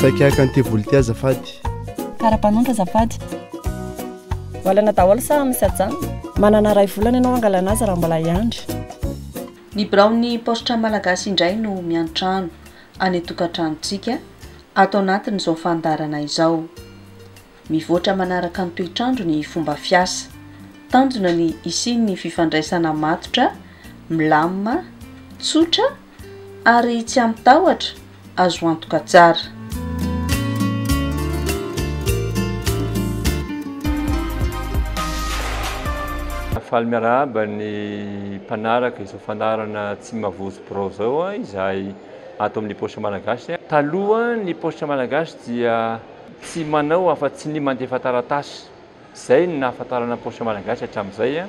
saika haka ny tevolity azafady karapanondra azafady valana daholo sa misy ajanona manana ray volana ianao angalana azy raha mbola hiandry Ny biraon'ny paositra malagasy indray no miantrano any an-tokantranontsika ato anatin'izao fandaharana izao. Mivoatra manaraka ny toetr'andro ny fomba fiasa. Tanjona ny hisian'ny fifandraisana matotra, milamina, tsotra ary tsy amin-tahotra. azo antoka tsara. Faly miarahaba ny mpanaraka izao fandaharana Tsy Mavozo Birao izao izahay ato amin'ny Paositra Malagasy. Taloha, ny Paositra Malagasy dia tsy manao afa-tsy ny mandefa taratasy. Izay no nahafantarana ny Paositra Malagasy hatramin'izay.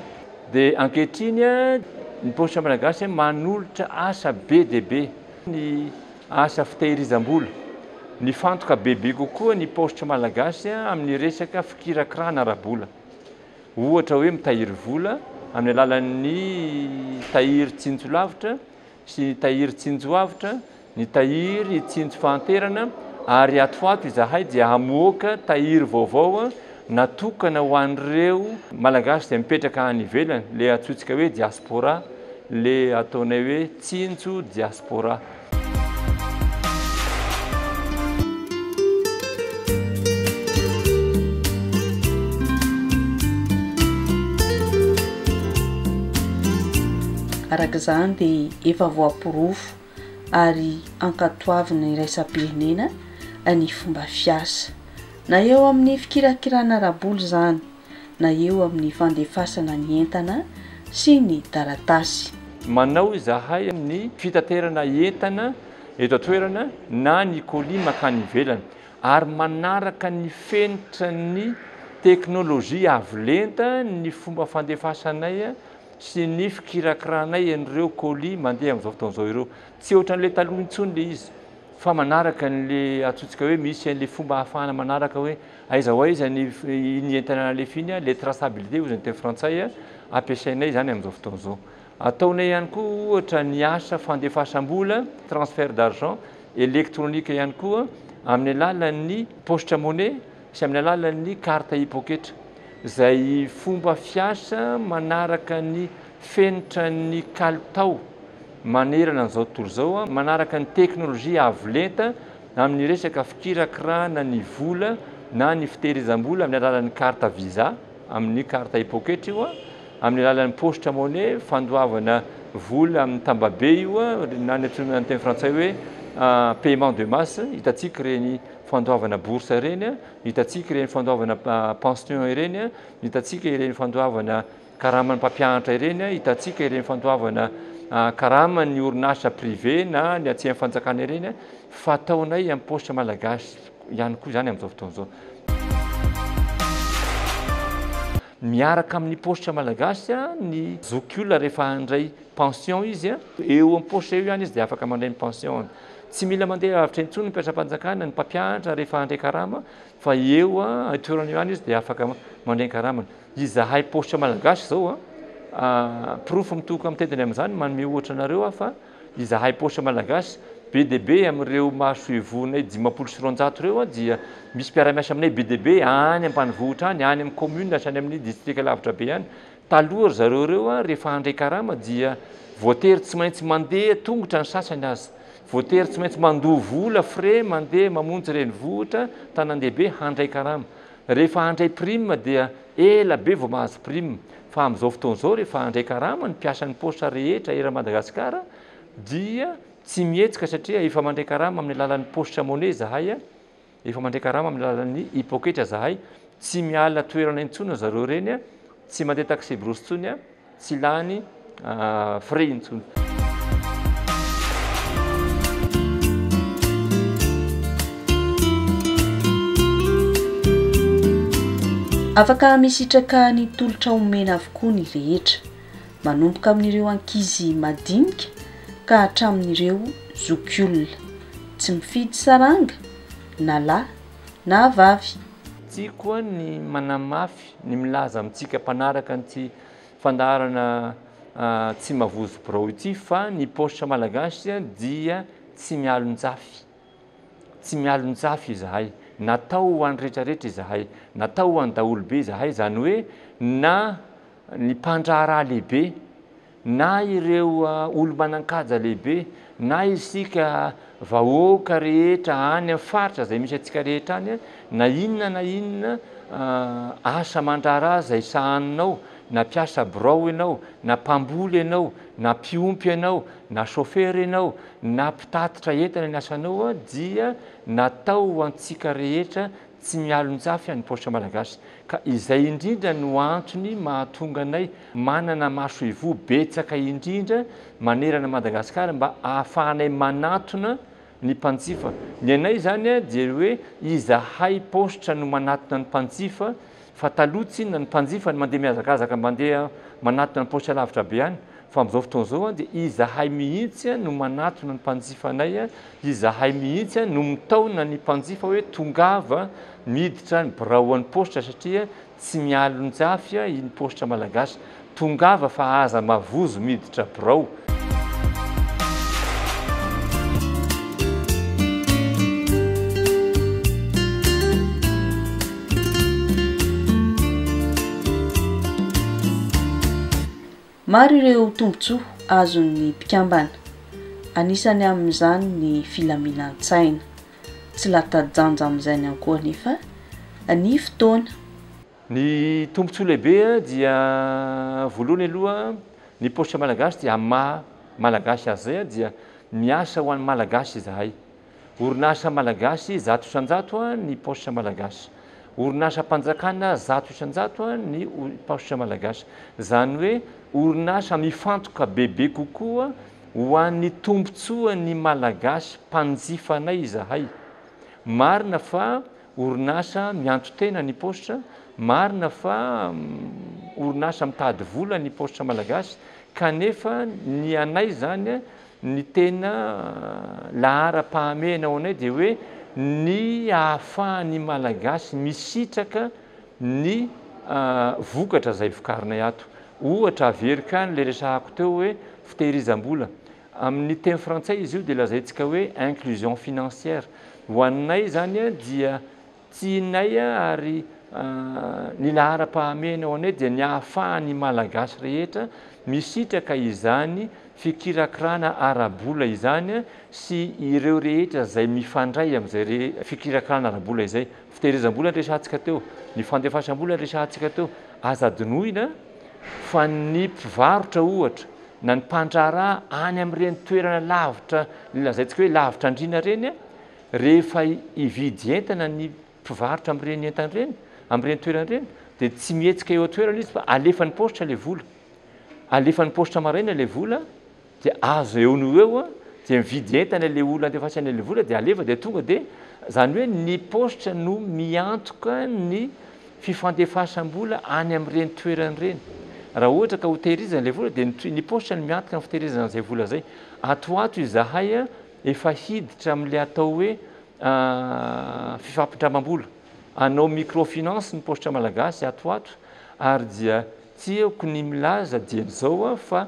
Dia ankehitriny, ny Paositra Malagasy manolotra asa be dia be. ny asa fitehirizam-bola. Nifantoka bebe kokoa ny paositra malagasy amin'ny resaka fikirakirana ara-bola. Ohatra hoe mitahiry vola amin'ny alalan'ny tahiry tsinjo lavitra sy ny tahiry tsinjo avotra, ny tahiry tsinjo fahanterana ary ato ho ato izahay dia hamoaka tahiry vaovao Natokana ho an'ireo Malagasy izay mipetraka any ivelany, ilay antsointsika hoe diaspora, ilay ataonay hoe tsinjo diaspora. Araka izany dia efa voaporofo ary ankatoavina iraisam-pirenena ny fomba fiasa, na eo amin'ny fikirakirana ara-bola izany, na eo amin'ny fandefasana ny entana sy ny taratasy. Manao izahay amin'ny fitaterana entana eto an-toerana na ny colis mankany ivelany, ary manaraka ny fenitra ny teknolojia avo lenta ny fomba fandefasanay. sy ny fikirakiranay an'ireo colis mandeha amin'izao fotoana izao ireo. Tsy ohatran'ilay taloha intsony ilay izy fa manaraka an'ilay antsointsika hoe misy an'ilay fomba ahafahana manaraka hoe aiza ho aiza ny iny entana nalefiny, ilay traçabilité hoy izany teny frantsay ampiasainay izany amin'izao fotoana izao. Ataonay ihany koa ohatra ny asa fandefasam-bola, transfert d'argent, elektronika ihany koa amin'ny alalan'ny paositra money. sy amin'ny alalan'ny carte hipoketra, izay fomba fiasa manaraka ny fenitran'ny kalitao manerana an'izao tontolo izao, manaraka ny teknolojia avo lenta amin'ny resaka fikirakirana ny vola na ny fitehirizam-bola amin'ny alalan'ny carte visa, amin'ny carte hipoketra io, amin'ny alalan'ny poste money, fandoavana vola amin'ny tambabe io, na ny antsoina amin'ny teny frantsay hoe paiement de masse, hitantsika ireny fandoavana bourse ireny, hitantsika ireny fandoavana pension ireny, hitantsika ireny fandoavana karaman'ny mpampianatra ireny, hitantsika ireny fandoavana karaman'ny orinasa privé na ny atsy amin'ny fanjakana ireny fa ataonay amin'ny paositra malagasy ihany koa izany amin'izao fotoana izao. Miaraka amin'ny paositra malagasy ny zokiolona rehefa handray pension izy, eo amin'ny paositra eo ihany izy dia afaka mandray ny pension-ny. Tsy mila mandeha lavitra intsony ny mpiasam-panjakana, ny mpampianatra rehefa handray karama fa eo an-toerana eo ihany izy dia afaka mandray ny karamany. Izahay Paositra Malagasy izao, porofo mitohoka mitentina amin'izany, manome ohatra anareo aho fa izahay Paositra Malagasy, be dia be amin'ireo masoivohonay dimampolo sy roanjato ireo dia misy mpiara-miasa aminay be dia be any ambanivohitra any, any amin'ny kaominina sy any amin'ny distrika lavitra be any. Taloha ry zareo ireo rehefa handray karama dia voatery tsy maintsy mandeha tongotra ny sasany aza. Voatery tsy maintsy mandoa vola, frais, mandeha mamonjy renivohitra, tanandehibe handray karama. Rehefa handray prime dia ela be vao mahazo prime. Fa amin'izao fotoana izao rehefa handray karama ny mpiasan'ny paositra rehetra eran'i Madagasikara dia tsy mihetsika satria efa mandray karama amin'ny alalan'ny paositra money izahay. Efa mandray karama amin'ny alalan'ny hipoketra zahay, tsy miala toerana intsony zareo reny a, tsy mandeha taxi brousse intsony a, tsy lany frais intsony. Afaka misitraka ny tolotra omena avokoa ny rehetra. manomboka amin'ireo ankizy madinika ka hatramin'ireo zokiolona, tsy mifidy saranga na lahy na vavy. Tsy koa ny manamafy ny milaza amintsika mpanaraka an'ity fandaharana tsy mavozo birao ity fa ny paositra malagasy dia tsy mialon-tsafy. Tsy mialon-tsafy izahay, natao ho an'ny rehetra rehetra izahay, natao ho an'ny daholobe izahay, izany hoe na. ny mpandraharaha lehibe, na ireo olo-manan-kaja lehibe, na isika vahoaka rehetra any amin'ny faritra izay misy antsika rehetra any, na inona na inona asa aman-draharaha izay sahaninao, na mpiasa birao ianao, na mpamboly ianao, na mpiompy ianao, na chauffeur ianao, na mpitatitra entana ny asanao dia natao ho antsika rehetra, Tsy mialon-tsafy any paositra Malagasy ka izay indrindra no antony mahatonga anay manana masoivoho betsaka indrindra manerana Madagasikara mba ahafahanay manatona ny mpanjifa. Ny anay izany dia hoe izahay paositra no manatona ny mpanjifa Fa taloha tsinona ny mpanjifa no mandeha mihazakazaka mandeha manatona ny paosy alavitra be any fa amin'izao fotoana izao dia izahay mihitsy no manatona ny mpanjifa anay, izahay mihitsy no mitaona ny mpanjifa hoe tongava miditra ny birao an'ny paositra satria tsy mialonjafy iny paositra malagasy. Tongava fa aza mavozo miditra birao. Maro ireo tombontsoa azon'ny mpikambana, anisany amin'izany ny filaminan-tsaina. Tsy lata-janja amin'izany ihany koa anefa ny fotoana. Ny tombontsoa lehibe dia voalohany aloha ny paositra malagasy dia amin'ny maha malagasy azy izay dia miasa ho an'ny malagasy izahay. Orinasa malagasy zato isan-jato ny paositra malagasy. Orinasam-panjakana zato isan-jato ny paositra malagasy. Izany hoe orinasa mifantoka bebe kokoa ho an'ny tombontsoan'ny malagasy mpanjifanay izahay. Marina fa. Orinasa mianto-tena ny paositra, marina fa orinasa mitady vola ny paositra malagasy kanefa ny anay izany ny tena laharam-pahamehana ho anay dia hoe ny ahafahan'ny malagasy misitraka ny vokatra izay vokarinay ato. Ohatra averiko ihany ilay resahako teo hoe fitehirizam-bola. Amin' ny teny frantsay izy io dia lazaintsika hoe inclusion financière. Ho anay izany dia tsy inay ary ny laharam-pahamehana ho anay dia ny ahafahan' ny Malagasy rehetra misitraka izany fikirakirana ara-bola izany sy ireo rehetra izay mifandray amin' izay fikirakirana ara-bola izay. Fitehirizam-bola ny resahantsika teo, ny fandefasam-bola ny resahantsika teo. Aza adinoina fa ny mpivarotra ohatra na ny mpandraharaha any amin'ireny toerana lavitra lazaintsika hoe lavitra andriana ireny, rehefa hividy entana ny mpivarotra amin'ireny entana ireny, amin'ireny toerana ireny dia tsy mihetsika eo an-toerana izy fa alefan'ny paositra ilay vola. Alefan'ny paositra maraina ilay vola. dia azo eo no eo dia mividy entana ilay olona andefasany ilay vola dia alefa dia tonga dia izany hoe ny paositra no miantoka ny fifandefasam-bola any amin'ireny toerana ireny raha ohatra ka ho tehirizana ilay vola dia ny paositra no miantoka ny fitehirizana an'izay vola izay ato ho ato izahay efa hiditra amin'ilay atao hoe fifampindramam-bola hanao microfinance ny paositra malagasy ato ho ato ary dia tiako ny milaza dieny izao aho fa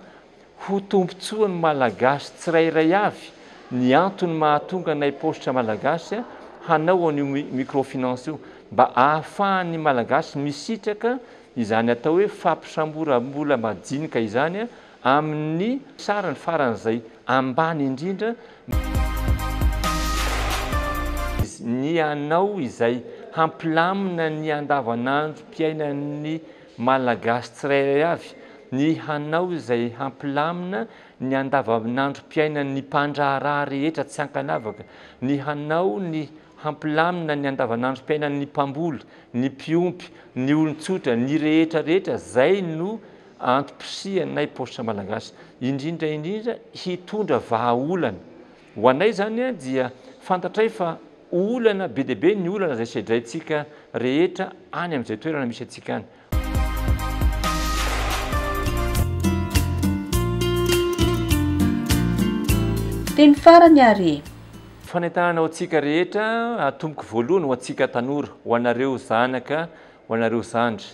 ho tombontsoan'ny Malagasy tsirairay avy ny antony mahatonga anay Paositra Malagasy hanao an'io microfinance io, mba ahafahan'ny Malagasy misitraka izany atao hoe fampisamboram-bola majinika izany amin'ny sarany faran'izay ambany indrindra, ny hanao izay hampilamina ny andavanandrom-piainan'ny Malagasy tsirairay avy ny hanao izay hampilamina ny andavanandrom-piainan'ny mpandraharaha rehetra tsy ankanavaka, ny hanao ny hampilamina ny andavanandrom-piainan'ny mpamboly, ny mpiompy, ny olon-tsotra, ny rehetra rehetra, zay no antom-pisihanay Paositra Malagasy, indrindra indrindra hitondra vahaolana. Ho anay izany dia fantatray fa olana be dia be ny olana izay sedraintsika rehetra any amin'izay toerana misy antsika any. Teny farany ary e! Fanentanana ho antsika rehetra atomboky voalohany ho antsika tanora, ho anareo zanaka, ho anareo zandry.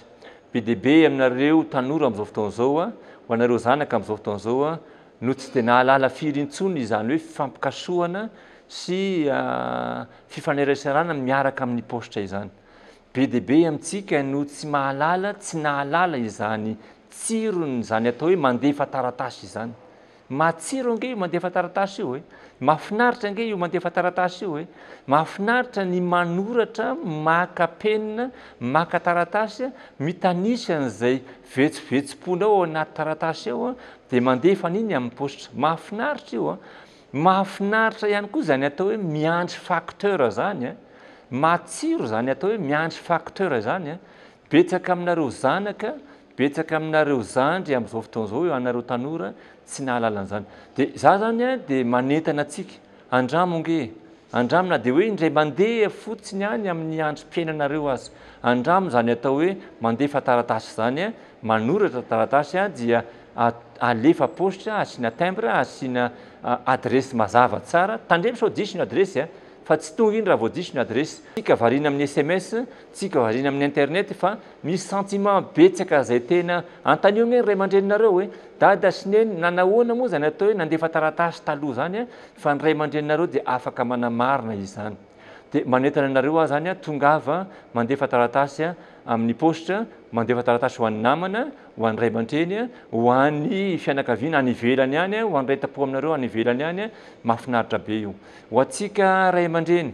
Be dia be aminareo tanora amin'izao fotoana izao, ho anareo zanaka amin'izao fotoana izao no tsy dia nahalala firy intsony izany hoe fifampikasohana sy fifaneraserana miaraka amin'ny paositra izany. Be dia be amintsika no tsy mahalala, tsy nahalala izany tsiron'izany atao hoe mandefa taratasy izany. Matsiro ange io mandefa taratasy io e! Mahafinaritra ange io mandefa taratasy io e! Mahafinaritra ny manoratra, maka penina, maka taratasy, mitanisa an'izay vetsovetsom-ponao ao anaty taratasy ao, Dia mandefa an'iny amin'ny paositra. Mahafinaritra io an! Mahafinaritra ihany koa izany atao hoe miandry facteur izany an! Matsiro izany atao hoe miandry facteur izany an! Betsaka aminareo zanaka, betsaka aminareo zandry amin'izao fotoana izao eo anareo tanora tsy nahalala an'izany. Dia izaho izany dia manentana antsika Andramo nge! Andramo na dia hoe indray mandeha fotsiny any amin'ny androm-piainanareo aza. Andramo izany atao hoe mandefa taratasy izany, manoratra taratasy dia alefa paositra, asiana timbre, asiana adiresy mazava tsara. Tandremo sao diso ny adiresy fa tsy tonga iny raha vao diso ny adiresy. Ka variana amin'ny sms Tsy variana amin'ny internet fa misy sentiment betsaka zay tena antanio anie ny ray aman-dreninareo hoe dada sy neny na nahoana moa zany atao hoe nandefa taratasy taloha zany a fa ny ray aman-dreninareo dia afaka manamarina izany dia manentana anareo aho zany a tongava mandefa taratasy a amin'ny poste mandefa taratasy ho an'ny namana ho an'ny ray aman-treny a ho an'ny fianakaviana any ivelany any a ho an'ny ray tampo aminareo any ivelany any a mahafinaritra be io ho antsika ray aman-dreny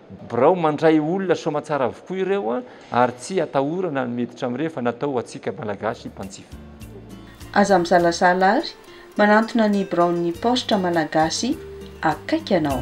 Birao mandray olona soamatsara avokoa ireo ary tsy atahorana ny miditra amin'ireny fa natao ho antsika Malagasy mpanjifa. Aza mizalazala ary manantona ny biraon'ny paositra Malagasy akaiky anao.